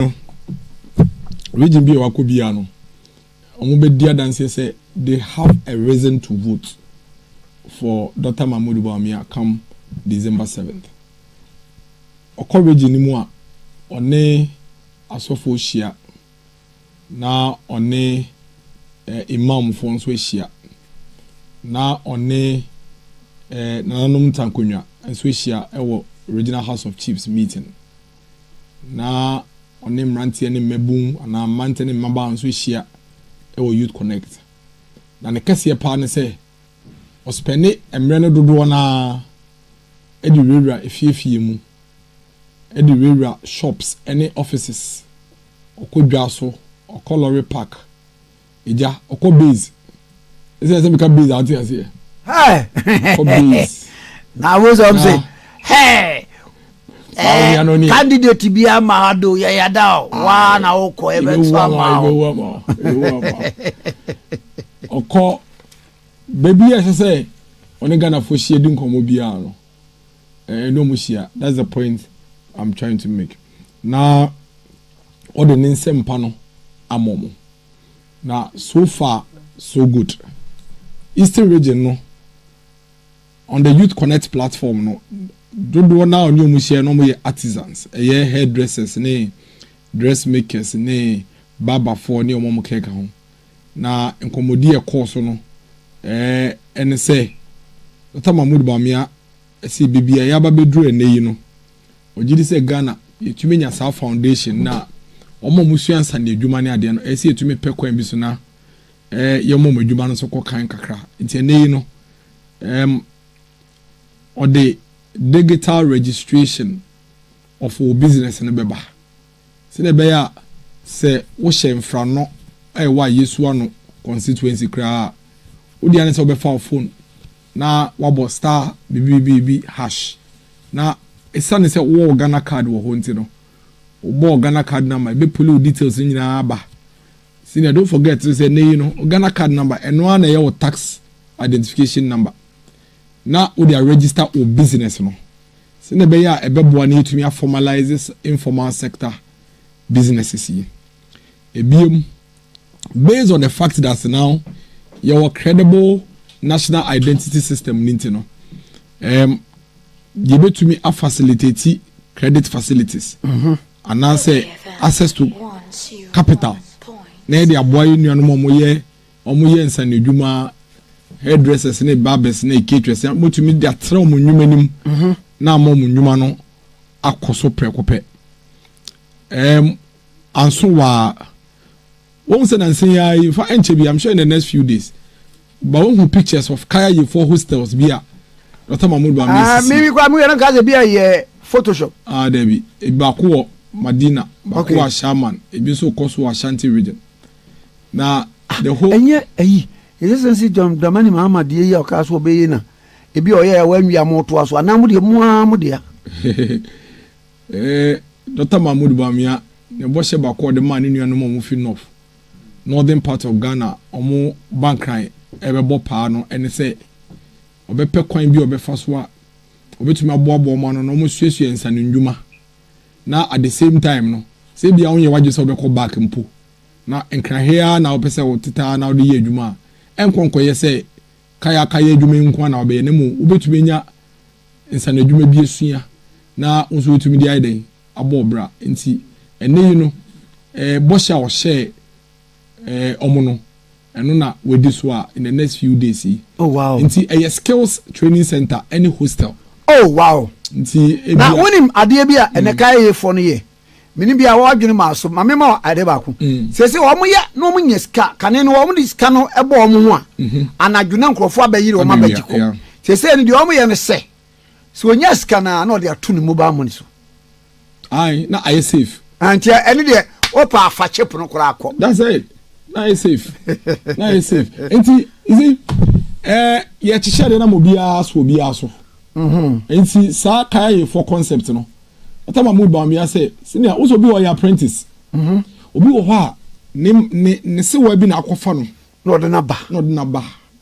no, region bi a wakɔ biara no, wɔn bɛ di adanseɛ sɛ they have a reason to vote for Dr. Mahmoud Bawumia come December 7th. Ɔkɔ region no mu a, ɔne asɔfoɔ hyia na ɔne eh, imamfoɔ nso ahyia na ɔne eh, nananom ntankonwa nso ahyia wɔ regional house of chiefs meeting Na ɔne mmeranteɛ ne mmabun anaa mmeranteɛ ne mmabaa nso hyia wɔ Youth Connect. Na ne kɛseɛ paa ne sɛ ɔspɛne mmerɛ no dodoɔ no ara de wurawura efie fie mu, de wurawura shops ne offices, ɔkɔ dwa so, ɔkɔ lorry park, Agya, ɔkɔ base. Ɛsɛ sɛ meka base a ɔte aseɛ. Ɔkɔ base. Na awosɛ ɔm sɛ, hɛɛ. Eh, candidate bi ama ado yɛ yada o. Ah, Waa na wokɔ ebe nso ama o. Ebe ama o. Ebe ama o. Ɔkɔ baabi a ɛsɛ sɛ ɔne Ghanafoɔ hyia di nkɔmmɔ biara no. ɛne wɔn hyia that's the point i'm trying to make na ɔde ne nsɛm pa no ama wɔn na so far so good eastern region no on the youth connect platform no dodoɔ na ɔne wɔn hyia na wɔn yɛ artisans ɛyɛ hairdressers ne dressmakers ne barberfoɔ ne wɔn wɔn kɛkɛ ho. Na nkɔmmɔdi a ɛkɔɔ so no ne sɛ, Dɔkta Mahmoud Bawumia se baabi a yɛaba abɛduru ɛnnɛ yi no, ɔgye di sɛ Ghana yɛatumi anya saa foundation no a wɔn a wɔsua nsaneɛ adwuma ne adeɛ no, ɛyɛ sɛ yɛtumi pɛ kwan bi so na yɛma wɔn adwuma no nso kɔ kan kakra. Nti ɛnnɛ yi no, ɛɛm, ɔde digital registration of wo business no bɛba. Sɛdeɛ ɛbɛyɛ a sɛ wohyɛ Mfrano a ɛwɔ Ayesu Ano constituency koraa a, wo deɛ ara ne sɛ wobɛfa wo phone na woabɔ star bibibibiribi hash. Na ɛsiane sɛ wowɔ wo Ghana card wɔ hɔ nti no, wobɔ wo Ghana card number, ɛbɛpuli wo details no nyinaa aba. Senior, don't forget nso sɛ nnɛ yi no, wo Ghana card number, ɛno ara na ɛyɛ wo tax identification number. na wode aregister wo business no sɛdeɛ ɛbɛyɛ a ɛbɛboa na yɛatumi a formalise informal sector businesses yi. Ɛbiom, based on the fact that now yɛwɔ credible national identity system no nti no, um, yɛbɛtumi a facilitate credit facilities mm -hmm. anaasɛ access to capital na yɛde aboa yɛ nuanom a wɔyɛ Wɔyɛ nsanodwuma, hairdressers ne barbers ne caterers, wobɛtumi de atena wɔn nnwuma anim na ama wɔn nnwuma no akɔ so prɛko pɛ. Um, anso waa, wɔn sɛ nansa yi ara yi, fa nkyɛ bi, I'm sure in the next few days, ba wɔn hu pictures of kaya yefoɔ hostels bi a, Dr. Mahmoud Bami ah, esisi. Mimi kwa mimi yɛrɛ kaasa bi a yɛ Photoshop. Ah, dɛbi, baako wɔ Madina, baako wɔ Ashaman, ebi nso kɔ so wɔ Ashanti region. Na the whole. Ɛnyɛ ayi, yɛhyɛ sɛ nsi John Dramani Mahama deɛ yi a ɔkaa so ɔbɛyɛ yi na ebi a ɔyɛ a wanwie a motoa so anaa mo deɛ mo ara mo dea. Doctor Mahmood Bawumia ne bɔhyɛ baako a ɔde maa ne nuanom a wɔfi North, Northern part of Ghana a wɔba nkran rebɛbɔ paa no ne sɛ ɔbɛpɛ kwan bi a ɔbɛfa so a ɔbɛtumi aboaboa wɔn ano na wɔasuasua nsanennwuma. na at the same time no sɛ ebia wonyɛ w'adwene sɛ wobɛkɔ back mpo na nkrahe ara na wopɛ sɛ wotete ara na wode yɛ adwuma a, ɛnkɔ nkɔyɛ sɛ kayakaya adwuma yi nko ara na wobɛyɛ na mmom wobɛtumi anya nsaanodwuma bi asua na wo nso woatumi de ayɛ dɛn? abɔ wo bra. Enti ɛnnɛ yi no, bɔhyɛ a ɔhyɛɛ. eh, ɔmo no ɛno na wadi so a in the next few days yi. oh wow nti ɛyɛ skills training center ɛne hostel. oh wow nti ebia na wonim adeɛ bi a ɛnɛ mm. kaeyefoɔ no yɛ mene bi a wɔadwene maa so ma mema ade baako mm. sɛ sɛ wɔn yɛ na wɔn nyɛ sika kane no wɔn de sika no bɔ wɔn ho a mhm. anadwo na nkurɔfoɔ abɛyere wɔn abɛgye kɔ sɛ sɛ no deɛ wɔn yɛ no sɛ. So onyaa sika no a na ɔde ato ne mobile money so. Aye, na ayɛ safe. Ah, nti ɛne deɛ ɔpa afa chip no koraa kɔ. That's it. Na ayɛ safe. Na ayɛ safe. Nti, you see, eh, yɛkyekyɛ deɛ na mo biara so obiara so. Mm-hmm. Nti saa kaya yɛ for concept no. Ɔtɔ ma mo ba mi asɛ, senior, wosɛ obi wɔ yɛ apprentice. Mm-hmm. Obi wɔ hɔ a, ne ne ne sewa bi na akɔfa no. Na ɔde na ba. Na ɔde na ba.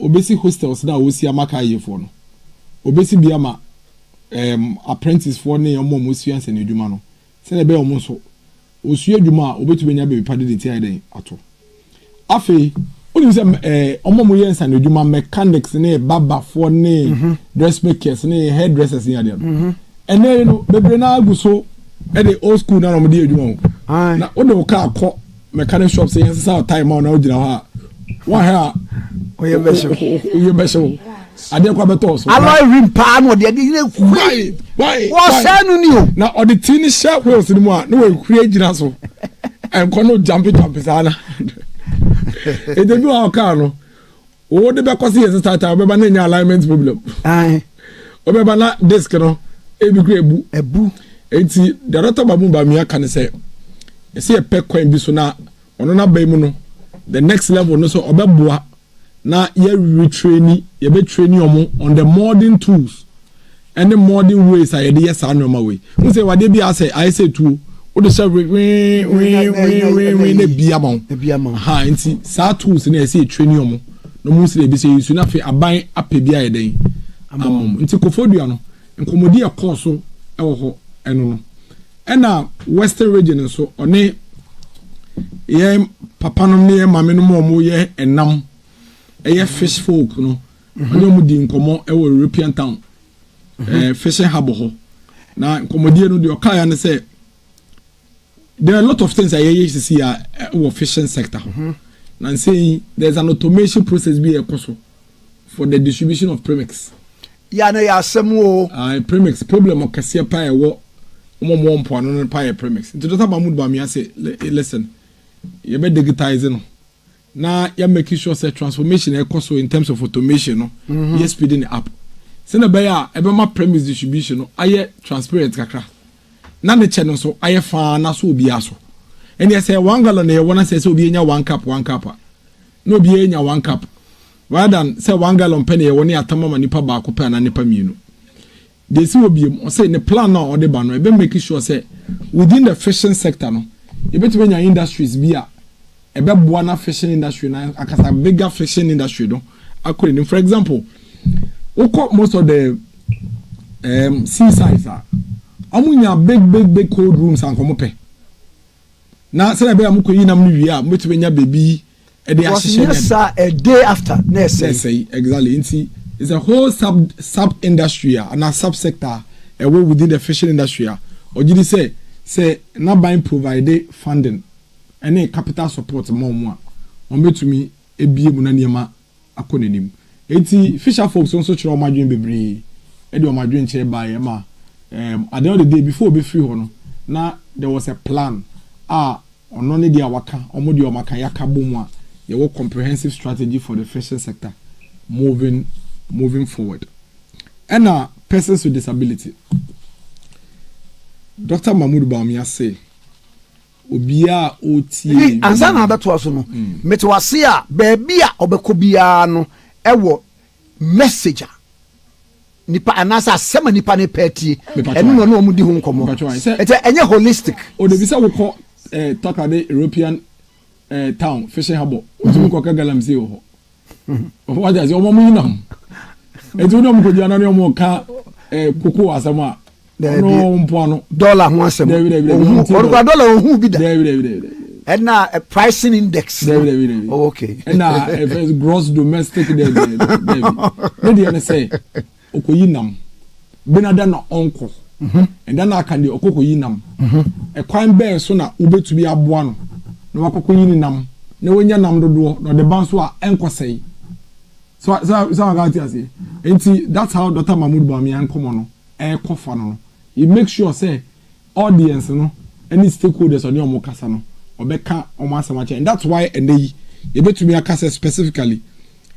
Obesi hostels no a wosi ama kaayɛfoɔ no. Obesi bi ama ɛɛm apprenticefoɔ ne wɔn a wɔresua nsɛnniadwuma no sɛdeɛ ɛbɛyɛ wɔn nso wɔsua adwuma a wɔbɛtumi anya baabi pa de deti ayɛ dɛn ato. Afei wonim sɛ ɛɛ wɔn a wɔyɛ nsanodwuma mechanics ne barberfoɔ ne dressmakers ne hairdressers ne adeɛ no ɛnɛ yi no bebree no ara gu so de old school no ara na wɔde yɛ adwuma o. Na wode wo kaa kɔ. mechanic shop sɛ yɛnsesa wo time ma wo na wogyina hɔ a woahwɛ a woyɛ bɛhye wo adeɛ kɔ abɛtɔ so alloy rim paa na ɔde adeɛ nyina hwai wɔsɛe no ni o na ɔde tii no hyɛ wheels no mu a na wɔahwie gyina so ɛnkɔ no gyampe gyampe saa na ɛdɛ bi wɔ ɔkaa no Wo de bɛkɔ se yɛ se taataa wobɛba na enya alignment problem. Ae. Wobɛba na disk no ebi kura ebu. Ebu. Enti deɛ Dɔkta Bamu Bamia ka ne sɛ ɛsɛ yɛpɛ kwan bi so na ɔno n'aban mu no the next level no sɛ ɔbɛboa na yɛ retraini yɛbɛ traini ɔmo on the modern tools ɛne modern ways a yɛde yɛ saa nneɛma wei n sɛ wadeɛ bi asɛ ayɛ sɛ tuo wode hyɛ wewewewewewee na bia ma wo ha nti saa tools no ɛsɛ ɛtire ne ɔmo na ɔmo sɛ ɛbi sɛ yɛsu no afei aban apɛ bi ayɛ dɛn ama mo nti kofodua no nkɔmmɔdi ɛkɔɔ so ɛwɔ hɔ ɛno no ɛna western region nso ɔne yɛ papa nom ne yɛ maame nom ɔmo yɛ ɛnam ɛyɛ fish folk no Ɔne wɔn dii nkɔmmɔ wɔ European town ɛɛ fishing harbour hɔ na nkɔmmɔdie no deɛ ɔkaeɛ ne sɛ there are a lot of things a yɛyɛ sisi a wɔ fishing sector ho mhm. na nsɛ yi there is an automation process bi a ɛkɔ so for the distribution of premix. yà no yà asɛm o. ayi premix problem kɛseɛ pa ɛwɔ wɔn a wɔn mpoano no pa yɛ premix nti dɔkta mahmood bamia sɛ listen yɛ bɛ digitize no. na yɛ make sure sɛ transformation a ɛkɔ so in terms of automation no mm-hmm. yɛ speeding it up sɛnɛ bɛyɛ a ɛbɛma premise distribution no ayɛ transparent kakra na ne kyɛ no nso ayɛ faa na so obiara so ɛnneɛ sɛ one gallon na yɛwɔ na sɛ sɛ obiara nya one cup one cup a na obiara nya one cup rather than sɛ one gallon pɛ na yɛwɔ ne atam ama nipa baako pɛ anaa nipa mmienu Deɛ ɛsi hɔ bio, ɔse ne plan no a ɔde ba no, ɛbɛ make sure sɛ within the fishing sector no, yɛbɛtumi anya industries bi a ɛbɛboa na fishing industry no ankasa, bigger fishing industry no akɔ anim. For example, wokɔ most of the um, seasides a, wɔn nya big big big cold rooms a nkɔmɔ pɛ. Na sɛdeɛ ɛbɛyɛ a mokɔyi nam no wie a, mobɛtumi anya baabi ɛde ahyehyɛ nyɛ saa a day after na ɛsɛe. ɛsɛe exactly nti it's a whole sub sub industry a ana sub sector a ɛwɔ within the fishing industry a ɔgye di sɛ sɛ n'aban provide funding ɛne capital support ma wɔn a wɔbɛtumi ebie mu na nneɛma akɔ n'anim. Enti Fisher folks no nso kyerɛɛ wɔn adwene bebree de wɔn adwenkyerɛ baeɛ ma um at the end of the day before wɔbɛfiri hɔ no na there was a plan a ɔno ne deɛ a waka wɔn deɛ wɔn aka yɛaka bɔ mu a yɛwɔ comprehensive strategy for the fishing sector moving moving forward ɛna persons with disability Doctor Mahmoud Bawumia say Obiara a ɔretie yɛn Hey, ansa na biara. abɛtoa so no, mete wo ase a baabi a ɔbɛkɔ biara no ɛwɔ message a nipa anaasɛ asɛm a nipa no pɛ atie, Mepatwa ɛno na ayɛ. ɔne wɔn di ho nkɔmmɔ. Mepatwa ayɛ. Sɛ- Ɛkyɛ ɛnyɛ holistic. O de bi sɛ wokɔ eh, Takoradi European eh, town, fishing harbour, wotumi kɔ ka galamsey wɔ hɔ. wagya sɛ ɔma mo yinam ɛti wode ɔmo kɔgyina na ne ɔmo ka eh, koko asɛm a ɔno mpoa no dɔla ho asɛm ɔdokora dɔla ɔhu bi da ɛna eh, pricing index oh, okay ɛna ɛfɛ eh, gross domestic dɛ dɛ dɛ ne deɛ ne sɛ Ɔkɔyi nam. Benada na ɔnkɔ. Ɛda no a aka deɛ, ɔkɔkɔyi nam. Ɛkwan bɛn so na wobɛtumi aboa no na wakɔkɔyi ne nam na wanya nam dodoɔ na ɔde ba nso a ɛnkɔsɛe? So a, so a, so a wate aseɛ? Enti, that's how Doctor Mahmoud Bawumia nkɔmmɔ no ɛrekɔ fa no no. He makes sure sɛ Audience no ne stakeholders a ɔne wɔn rekasa no, ɔbɛka wɔn asɛm akyerɛ. And that's why ɛnnɛ yi, yɛbɛtumi aka sɛ specifically,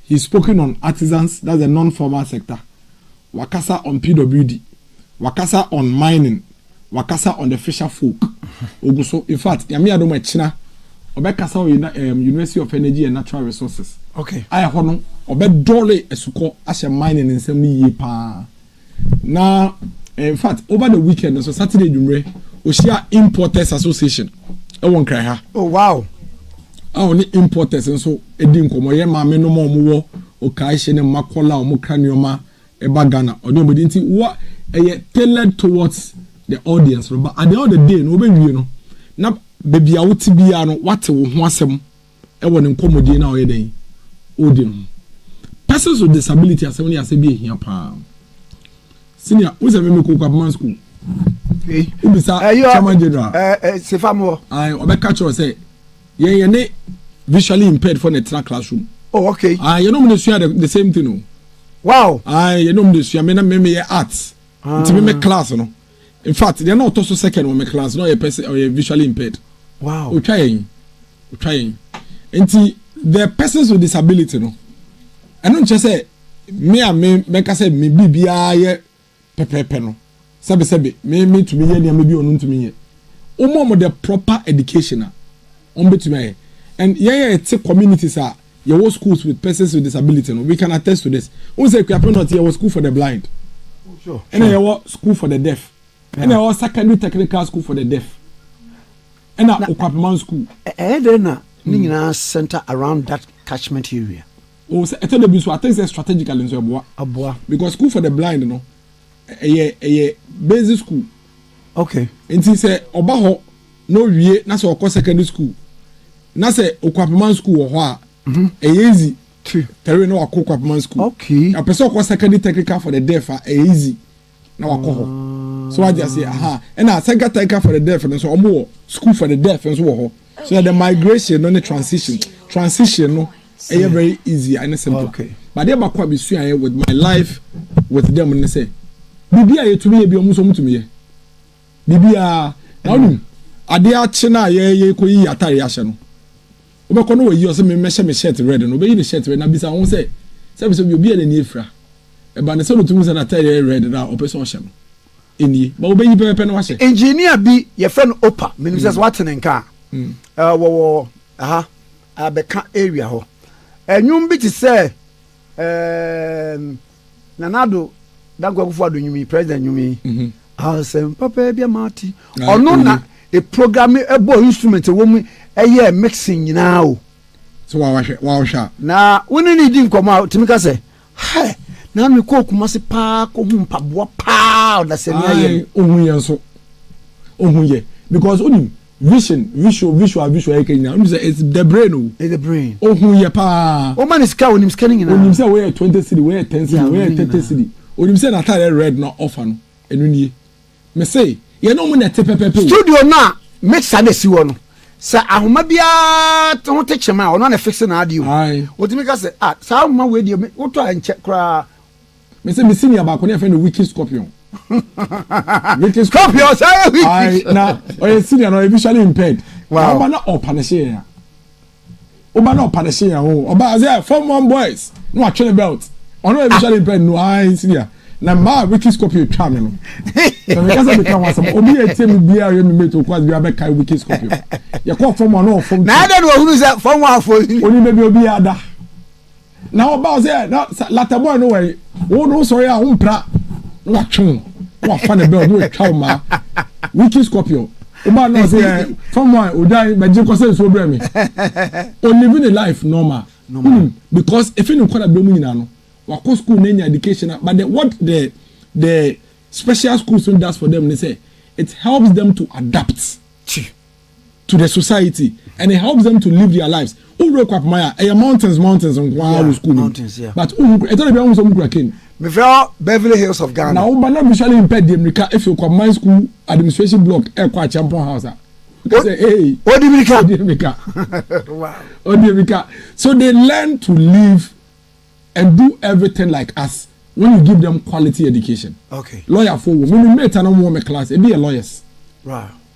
he's spoken on artisans, that's the non-formal sector, wakasa on PWD, wakasa on mining, wakasa on the fisher folk. Ogu so. In fact, Nyame adom ɛkyena, ɔbɛkasa wɔ um, University of Energy and Natural Resources. Okay. A ɛhɔ no, ɔbɛdɔre asukɔ ahyɛ mining nsɛm no yie paa. Na in fact over the weekend nso Saturday nwummerɛ ɔhyia Importers Association ɛwɔ Nkran ha. Oh wow. A ɔne importers nso ɛdi nkɔmɔ yɛ maame nom a wɔn wɔ Okaehye ne Makola a wɔn kra nneɛma ɛba Ghana ɔne wɔn ɛdi nti wɔ ɛyɛ tailored towards the audience no but at the end of the day no wɔbɛwie no na baabi a wote biara no wate wo ho asɛm wɔ ne nkɔmmɔdie no a ɔyɛ dɛn ɔredi no ho. Persons with disability asɛm no yɛ asɛm bi a ɛhia paa. Senior, wo sɛ meme kɔ Kwabema school. Wobisa chairman general. Sefa mo. Ayi, ɔbɛka kyerɛ sɛ yɛn yɛn ne visually impaired for na ɛtena classroom. Oh, okay. Ayi, yɛn nom ne sua the same thing o. Wow. Ayi, yɛn nom ne sua me na me me yɛ arts. Ah. Nti me me class no. In fact, deɛ na ɔtɔ so second wɔ me class na ɔyɛ person ɔyɛ visually impaired. Wow. Otwa yɛn. Otwa yɛn. Nti the persons with disability no. Ɛno nkyɛ sɛ me a me mɛka sɛ me biribiara yɛ pɛpɛɛpɛ no. Sɛbe sɛbe me me tumi yɛ nneɛma bi ɔno ntumi yɛ. Wɔn wɔn the proper education a wɔn bɛtumi ayɛ. And yɛn yɛ te communities a yɛwɔ schools with persons with disability no we can attest to this wohu sɛ Akuapem North yɛwɔ school for the blind ɛna yɛwɔ school for the deaf ɛna yɛwɔ secondary technical school for the deaf ɛna Okwapeman school ɛyɛ dɛ na ne hmm. nyinaa center around that catchment area o sɛ ɛtɛ dɛ bi nso I think sɛ strategically nso ɛboa ɛboa because school for the blind no ɛyɛ ɛyɛ basic school Okay. Nti sɛ ɔba hɔ na owie na sɛ ɔkɔ secondary school na sɛ okwapeman school wɔ hɔ a mhm. ɛyɛ easy tɛre na wakɔ okwapeman school okay. na pɛ sɛ ɔkɔ secondary technical for the deaf a ɛyɛ easy na wakɔ hɔ ah. so wagye ase aha ɛna secondary technical for the deaf no nso wɔn wɔ school for the deaf nso wɔ hɔ so na the migration no ne transition transition no ɛyɛ very easy ɛne simple okay. but deɛ baako a mesuaeɛ with my life with them ne sɛ biribi a yɛtumi yɛ bi ɔmo nso ɔmo tumi yɛ biribi a na ɔnim adeɛ akye no a yɛyɛ kɔ yi atare ahyɛ no wobɛkɔ no wɔyi ɔsɛ memmɛhyɛ me shirt red no wobɛyi ne shirt red na bisa ho sɛ sɛ bi sɛ bi obi a n'ani afira ɛba ne sɛ no tumi sɛ n'atare red no a ɔpɛ sɛ ɔhyɛ no ɛnie ba wobɛyi pɛpɛpɛ no wahyɛ engineer bi yɛfrɛ no opa menim sɛ sɛ mm. woate ne nka a mm. wɔwɔ aha abɛka area hɔ. Nnwom bi te sɛ ɛɛm, Nana Addo Dankwa Akufo Addo nnwom yi, president nnwom yi. Mhm. Asɛm papa bi ama ate. Na- Ɔno mhm. na eprogramme ɛbɔ instrument ɛwɔ mu ɛyɛ mixing nyinaa o. sɛ wawahwɛ wawahwɛ a Na wo ne ne di nkɔmmɔ a, tumi ka sɛ, Hɛ! Na me kɔɔ Kumasi paa kɔ hu mpaboa paa ɔdasani ayɛ no. Ae ohun yɛ nso ohun yɛ because onim vision visual visual visual yɛ kɛ nyinaa onim sɛ it's the brain o. It's the brain. Ohun yɛ paa. Wɔn ma ne sika onim sika ne nyinaa. Onim sɛ wei yɛ twenty cedi wei yɛ ten cedi wei yɛ thirty cedi onim sɛ n'atadeɛ red na ɔfa no ɛno nie Me se yɛne ɔmo na ɛte pɛpɛpɛ o. Studio no a mixer na esi hɔ no, sɛ ahoma biara ho te kyem a, ɔno ara na ɛfixe n'adeɛ o. Ae. Otumi ka sɛ, ah, saa ahoma wei deɛ me, wotɔ a ɛnkyɛ koraa. Me se me senior baako no yɛfrɛ no Wicked Scorpion. Wicked Scorpion, saa yɛ Wicked. Ae, na ɔyɛ senior na ɔyɛ visually impaired. Wow. Na ɔba na ɔpanishe yɛn a. woba na ɔpa ne se yɛn ho ɔba ase yɛ form one boys na watwe ne belt ɔno ebi hyɛ ne mpɛ no ayi nsi deɛ na mmaa wiki scorpio twa me no na meka sɛ meka ho asɛm obi yɛ tie me biara yɛ me mate okwas biara bɛka wiki scorpio yɛkɔ fam a na ɔfam na ada na ɔhunu sɛ fam afo oni baabi obi ada Na ɔbaa sɛ na lata boy no wɛn wo no sɔre a wompra na watwe wo na wafa ne bɛl na watwa wo maa wiki scorpion ɔbaa na ɔsɛ ɛ fam a odwan bɛgye kɔ sɛ nsuo brɛ me olive ne life normal wonim because efi ne nkɔda berɛ mu nyinaa no wakɔ school na anya education but the, what the the special schools no does for them ne sɛ it helps them to adapt. to the society and it helps them to live their lives o wura kɔ apoma ya ɛyɛ mountains mountains nko ara wɔ school nim but o hu kura ɛtɔ de bi a o hu sɛ o mu kura cane. mefrɛ hɔ beverly hills of ghana. na o ba na visually impaired deɛ mirika efi okɔ apoman school administration block ɛkɔ akyɛmpɔn house a ɔka sɛ ee o di mirika o di mirika o di mirika so they learn to live and do everything like us when you give them quality education. okay lawyer fo wo mi mi mate na wɔn wɔ mi class ebi yɛ lawyers. wow.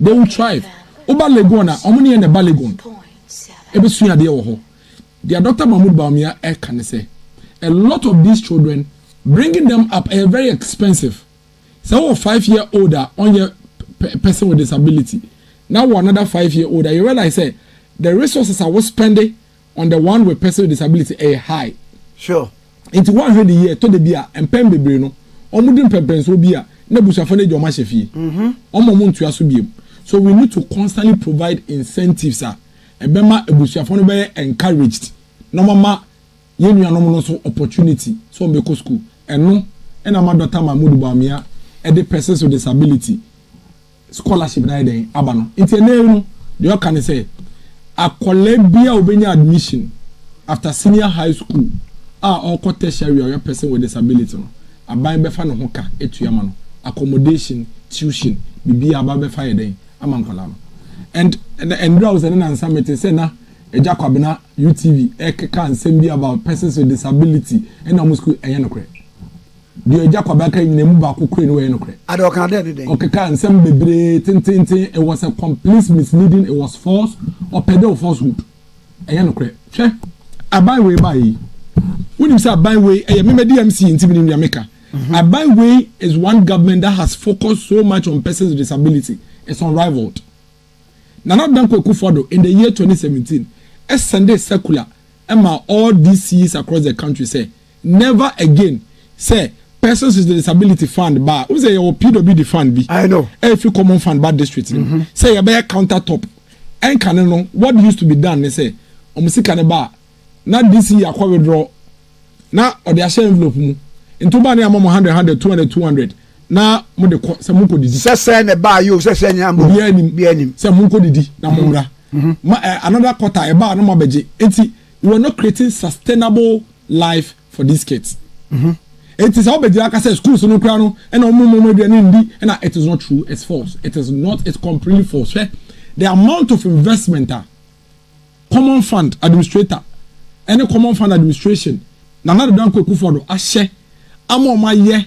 They will thrive. Woba Legon a, wɔn ne yɛn na ɛba Legon. Ɛbɛsua adeɛ wɔ hɔ. Deɛ Doctor Mahmood Bawumia ɛreka ne sɛ, a lot of these children, bringing them up ɛyɛ very expensive. Sɛ wowɔ five year old a ɔnyɛ person with disability na wowɔ another five year old a, you realize sɛ the resources a wo spɛnde on the one with person with disability ɛyɛ high. Sure. Nti woanhwɛ de yie ɛtɔ da bi a mpɛn bebree no wɔn di mpɛmpɛnsoɔ bi a na abusuafoɔ no agya wɔn ahyɛ fie. Wɔn a wɔntua so biom. So we need to constantly provide incentives a ɛbɛma abusuafoɔ no bɛyɛ encouraged na wɔama yɛn nuanom no nso opportunity sɛ wɔbɛkɔ school. Ɛno na ama Dɔkta Mahmood Bawumia de persons with disability scholarship no ayɛ dɛn aba no. Nti ɛnnɛ yi no, deɛ ɔka ne sɛ, akwadaa biara a ɔbɛnya admission after senior high school a ɔrekɔ tertiary a ɔyɛ person with disability no, aban bɛfa ne ho ka atua ama no, accommodation, tuition, biribiara aban bɛfa ayɛ dɛn ama nkwadaa no. And ɛnna ɛnnora wo sɛ ne nansa mete sɛ na Agya Kwabena UTV ɛkeka nsɛm bi about persons with disability ɛnna wɔn school, ɛnyɛ nokorɛ. Deɛ Agya Kwabaa kae nyinaa mu baako koraa ni, wɔyɛ nokorɛ. Ade ɔkaa dɛ ne dɛn? Ɔkekaa nsɛm bebree tenteenten, it was a complete misleading, it was false, ɔpɛ dɛ ɔ falsehood. Ɛnyɛ nokorɛ. Hwɛ, aban wei baeɛ yi, wonim sɛ aban wei, ɛyɛ me madi MC nti menim deɛ meka. Aban wei is one government that has focused so much on persons with disability, it's unrivalled. Nana Addo Dankwa Akufo Addo in the year 2017 sendee circular maa all DCs across the country sɛ Never again sɛ persons with disability fund ba a, wohu sɛ yɛwɔ PWD fund bi I know. a ɛfiri common fund ba district no mu sɛ yɛbɛyɛ counter top. Ɛnkane no, what used to be done ne sɛ wɔn sika no ba a, na DC akɔ withdraw na ɔde ahyɛ envelope mu nti woba no yɛama mo hundred hundred, two hundred two hundred na mode kɔ sɛ monkɔ didi. Sɛ sɛɛ na ɛbaa yi o, sɛ sɛɛ nyinaa mmom, Obiara nim obiara nim. sɛ monkɔ didi na mommra. Ma, eh, another quarter ɛba a na moabɛgye. Enti you were not creating sustainable life for these kids mm-hmm. eti sɛ ɔbɛgyina aka sɛ schools no kura no ɛna ɔmo mu ɔmo aduane ndi ɛna it is not true it's false it is not it's completely false hwɛ the amount of investment a common fund administrator ɛne common fund administration nana dodo anko ekufo do ahyɛ ama ɔmo ayɛ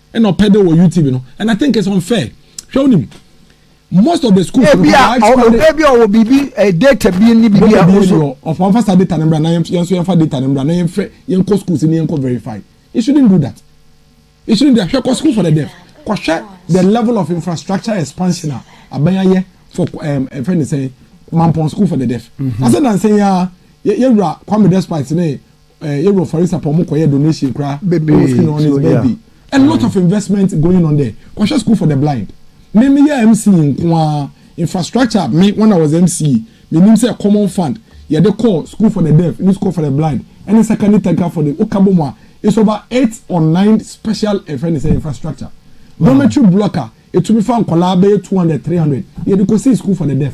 ɛna ɔpɛ dɛ wɔ youtube no and i think it's unfair hwɛ wonim most of the school no ebi a ebi a ɔwɔ biribi eh, data bi ni biribi a ɔso ɔfɔ ɔfa sa data no mbra na yɛn nso yɛn fa data no mbra na yɛn fɛ yɛn kɔ schools ni yɛn kɔ verify you shouldn't do that you shouldn't do that hwɛ kɔ school for the deaf kɔhwɛ the level of infrastructure expansion a abɛn for ɛm ɛfɛ ne sɛn mampɔn school for the deaf mm-hmm. ase na nsɛn ya yɛ yɛ wura kwame despite ne. eh, yɛwɔ farisa pɔ ɔmo kɔyɛ donation koraa bɛbɛ skin on his birthday a lot mm. of investment going on there kɔhwɛ school for the blind me me yɛ mc nkoa infrastructure me when i was mc me nim sɛ common fund yɛde kɔ school for the deaf ne school for the blind ɛne secondary tanka for the woka bɔ mu a it's over eight or nine special ɛfɛ ne sɛ infrastructure dormitory block a etumi fa nkɔlaa bɛyɛ two hundred three hundred yɛde kɔ si school for the deaf.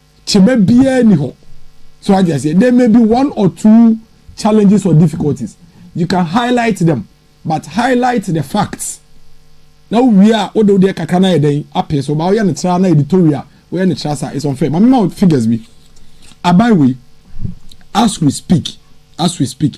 Kyema biara nni hɔ. So wate aseɛ? There may be one or two challenges or difficulties. You can highlight them, but highlight the facts. Na wowie a, wode wodeɛ kakra no ayɛ dɛn apee so. Ba woyɛ no tra na editorial, woyɛ no tra saa. It's unfair. Ma mema wo figures bi. Aban wei, as we speak, as we speak,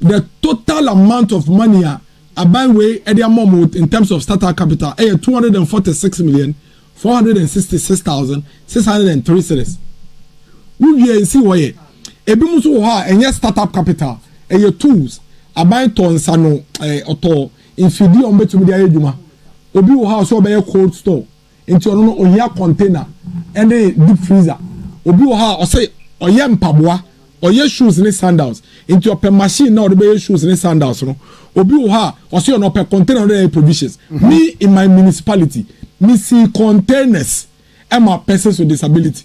The total amount of money a aban wei de ama wɔn in terms of startup capital yɛ two hundred and forty six million four hundred and sixty six thousand six hundred and three series wowie nsi hɔ yɛ ebinom nso wɔ hɔ a ɛnyɛ startup capital ɛyɛ tools aban tɔ nsa no ɛɛ ɔtɔ mfidie a wɔbɛtumi de ayɛ adwuma obi wɔ hɔ a ɔsɛ ɔbɛyɛ cold store Nti ɔno no ohia container ɛne deep freezer. Obi wɔ hɔ a ɔsɛ ɔyɛ mpaboa, ɔyɛ shoes ne sandals nti ɔpɛ machine na ɔde bɛyɛ shoes ne sandals no. Obi wɔ hɔ a ɔsɛ ɔno ɔpɛ container a ɔde ayɛ provisions. Me in my municipality me sii containers ɛma persons with disability.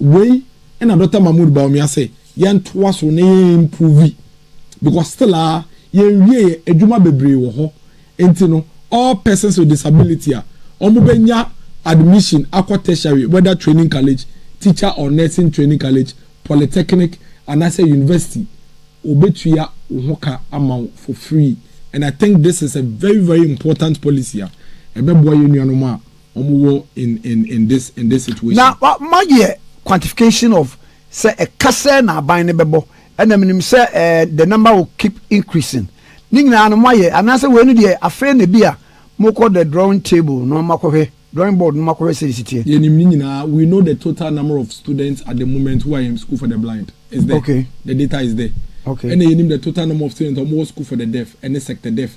Wei na Dɔkta Mahmood Bawumia se yɛntoa so na yɛn improve because still ara yɛn wieɛ adwuma bebree wɔ hɔ nti no all persons with disability a wɔn bɛ nya admission akɔ tertiary whether training college, teacher or nursing training college, polytechnic anaasɛ university wɔ bɛ tua wo ho ka ama wo for free and I think this is a very very important policy a ɛbɛ boa yɛn nuanom a wɔn wɔ in in in this in this situation. Na wa ma yɛ quantification of sɛ ɛka sɛɛ na aban no bɛbɔ ɛna me nim sɛ ɛɛ the number will keep increasing ne nyinaa no mo ayɛ anaa sɛ wei no deɛ afei na ebi a mo kɔ the drawing table no mo akɔ hwɛ drawing board no mo akɔ hwɛ sɛ esi teɛ. Yɛ nim ne nyinaa we know the total number of students at the moment who are in school for the blind is there okay. the data is there okay. Ɛna yɛ nim the total number of students a wɔn wɔ school for the deaf ɛne sector deaf.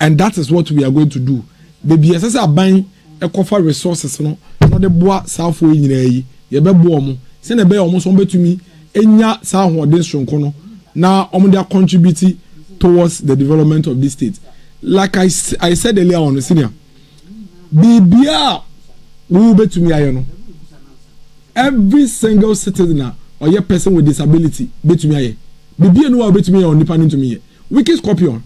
And that is what we are going to do baabi ɛsɛ sɛ aban ɛkɔfa resources no na ɔde boa saafoɔ yi nyinaa yi yɛbɛboa wɔn sɛnea ɛbɛyɛ wɔn nso wɔn bɛtumi anya saa ahoɔden soronko no na wɔn de acontribute towards the development of this state like I, I said earlier on senior. biribiara a wobɛtumi ayɛ no every single citizen a ɔyɛ person with disability bɛtumi ayɛ biribiara ni wa wobɛtumi yɛ onipa no ntumi yɛ wicked scorpion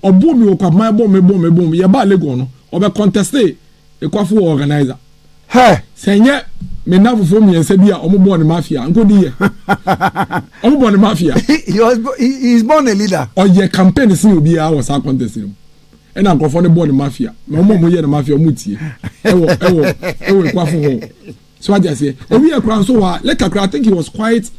ɔbom mi wɔ kwapoma ɛbom mi bom mi bom mi yɛbaa legon no ɔbɛ conteste ekwafo wɔ organizer hɛ sɛ nyɛ me nna fofoɔ mmiɛnsa bi a wɔn bɔɔ ne mafia nkodi yɛ wɔn bɔɔ ne mafia he is born a leader ɔyɛ campaign sin obiara wɔ saa contest no mu. ɛna nkurɔfoɔ no bɔ no mafia na wɔn a wɔyɛ no mafia wɔn tie ɛwɔ ɛwɔ ɛwɔ ekuafo hɔ so adi aseɛ owi ɛkura nso hɔ a lɛ kakra i think he was quite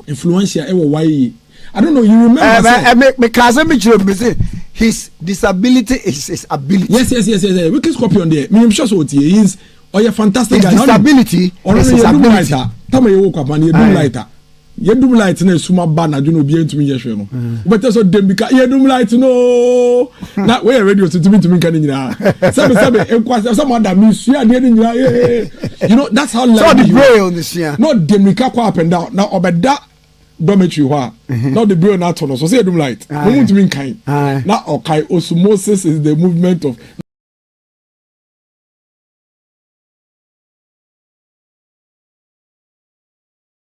influential ɛwɔ YA i don't know you remember eh, sɛ eh, me me kaa sɛ me kyerɛ mi sɛ his disability is his ability yes yes yes yes, yes. wicked scorpion deɛ mi n sure so tie he is ɔyɛ fantastic guy his disability is his ability ɔno yɛ dum lighter tama yɛ wɔ kwapa no yɛ dum lighter. Yɛdum light na esum aba anadwo na obiara ntumi nyɛ hwee no wobɛtɛ sɛ dɛm bi ka yɛdum light no na woyɛ radio so tumi ntumi nka ne nyinaa sɛbe sɛbe nkwasɛ sɛ moada mesua adeɛ no nyinaa yee you know that's how life is na ɔde mmirika kɔ up and down na ɔbɛda dormitory hɔ a mhm. na ɔde braille no ato no so sɛ yɛdum light na mu ntumi nkan na ɔkae osmosis is the movement of